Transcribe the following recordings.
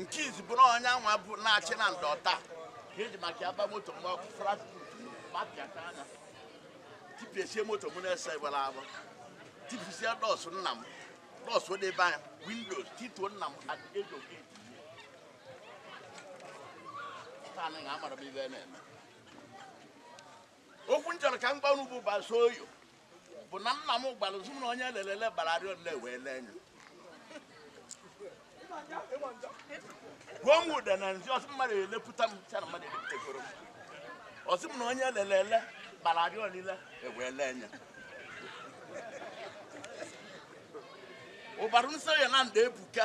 nke izi bụrụ onye anwa bụ na-achị na ndọ taa ka eji maka ya ba moto mgbe ọkụ frakput mapịaka anya tipịasịa moto m na-ese gbara agbọ tipịasịa dọsụ nna m dọsụ debe anya windows tituo nna m at age of eight taa anaghị amara m ihe na-eme okwu m chọrọ ka m gwa unu bụ Basoyo bụ na nna m gwara sị m na onye lelele bara arịọ niile ewee lee anya gwuo m ụda na nzi ọ sị mmadụ elepụta m sị ya na mmadụ elepụtagoro m ọ sị m na onye lelele bara arịọ niile ewee lee anya ụbara nsọ ya na nda ebuka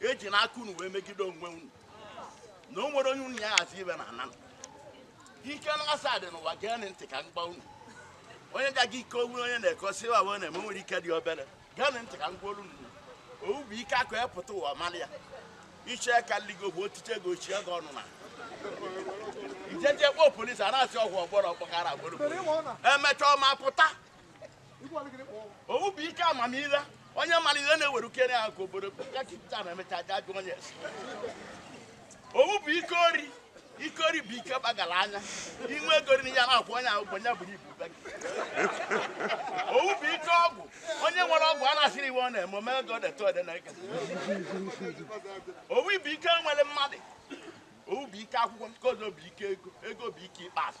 eji n'aka unu wee megide onwe unu na o nwere onye unu ya hazi ibe na ana ike na asaa dị n'ụwa gee ntị ka m gwa unu onye ga-aga ike owu onye na-ekosi wa wee na-eme nwere ike dị obere gee ntị ka m gwa olu unu owu bụ ike akụ epụta ụwa mara ya iche ka ligo bụ otiche ego ochie gị ọnụ na ị jeje kpọọ polisi a na-asị ọgwụ ọgbọrọ ọgbọghara agboro emechaa ọ ma pụta owu bụ ike amamihe onye mara ihe na-ewere ukere ya ka obodo ya ka ipụta na emechaa a ja-ajụ onye esi owu bụ ike ori ike ori bụ ike gbagara anya i nwee ego riri ya na-akwụ onye ahụ onye buru ibu be gị. owu bụ ike ọgwụ onye nwere ọgwụ a na-asịrị ihe ọ na-eme ome ego deta ode na eke owu bụ ike nwere mmadụ owu bụ ike akwụkwọ nke ọzọ bụ ike ego ego bụ ike ikpeazụ